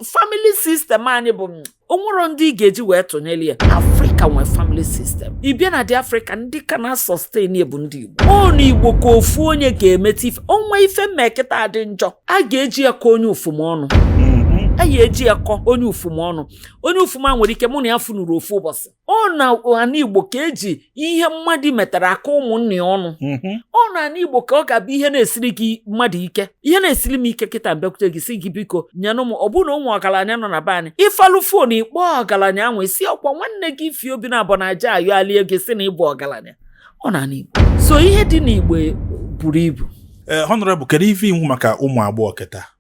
family system anyị bụ mm, o nwerọ ndị ị ga-eji wee tụnyere ya afrịka nwee family system ị bịa na ndị afrịka ndị ka na-asustain bụ ndị igbo ọ na igbo ka ofu onye ga-emeta ife o nwee ife m mee kịta dị njọ a ga-eji ya kọ onye ufuma ọnụ mm-hmm. a ga-eji ya kọ onye ufuma ọnụ onye ufuma nwere ike mụ na ya afụnurọ ofu ụbọchị ọ na ana igbo ka eji ihe mmadụ metara akọ ụmụnne ya ọnụ mhm. ọ na ana igbo ka ọ ga-abụ ihe na-esiri gị mmadụ ike ihe na-esiri m ike kịta m bịakwute gị sị gị biko nyenụ m ọ bụrụ na o nwee ọgaranya nọ na be anyị ị palụ phone ị kpọọ ọgaranya ahụ sị ọ kwa nwanne gị ify obinabo na-aja ayọ alie gị sị na ị bụ ọgaranya ọ na ana igbo so ihe dị n'igbo buru ibu ee eh, honorable kedu ife i kwu maka ụmụ agbọghọ kịta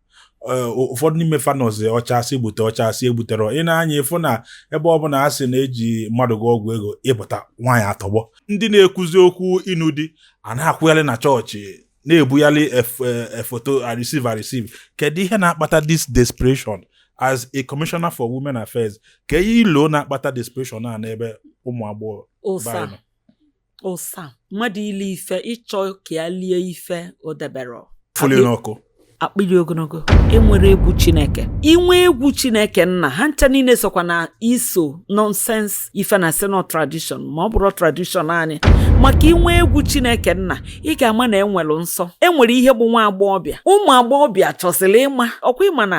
eh, ụfọdụ n'ime fa nọzi ọ cha a sị gbute ọ cha a sị egbuterọ ị nee anya ị fụ na ebe ọ bụla a sị na e ji mmadụ gwọ ọgwụ ego ị pụta nwaanyị atọgbọ ndị na-ekwuzi okwu ịnụ di a na-akwụgharị na chọọchị na-ebugharị foto eh, eh, I receive I receive kedu ihe na-akpata this desperation as a commissioner for women affairs kee ihe i lo na-akpata desperation a n'ebe ụmụ agbọghọ ụsa mmadụ ili ife ịchọ ka ya lie ife o debere fụli n'ọkụ akpịrị ogologo enwerọ egwu chineke i nwee egwu chineke nna ha ncha niile sokwa na is all nonsense ife a na-asị na ọ tradition ma ọ bụrọ tradition anyị maka i nwee egwu chineke nna ị ga-ama na enwere nsọ enwere ihe bụ nwa agbọghọbịa ụmụ agbọghọbịa chọsịrị ịma ọ kwa ị ma na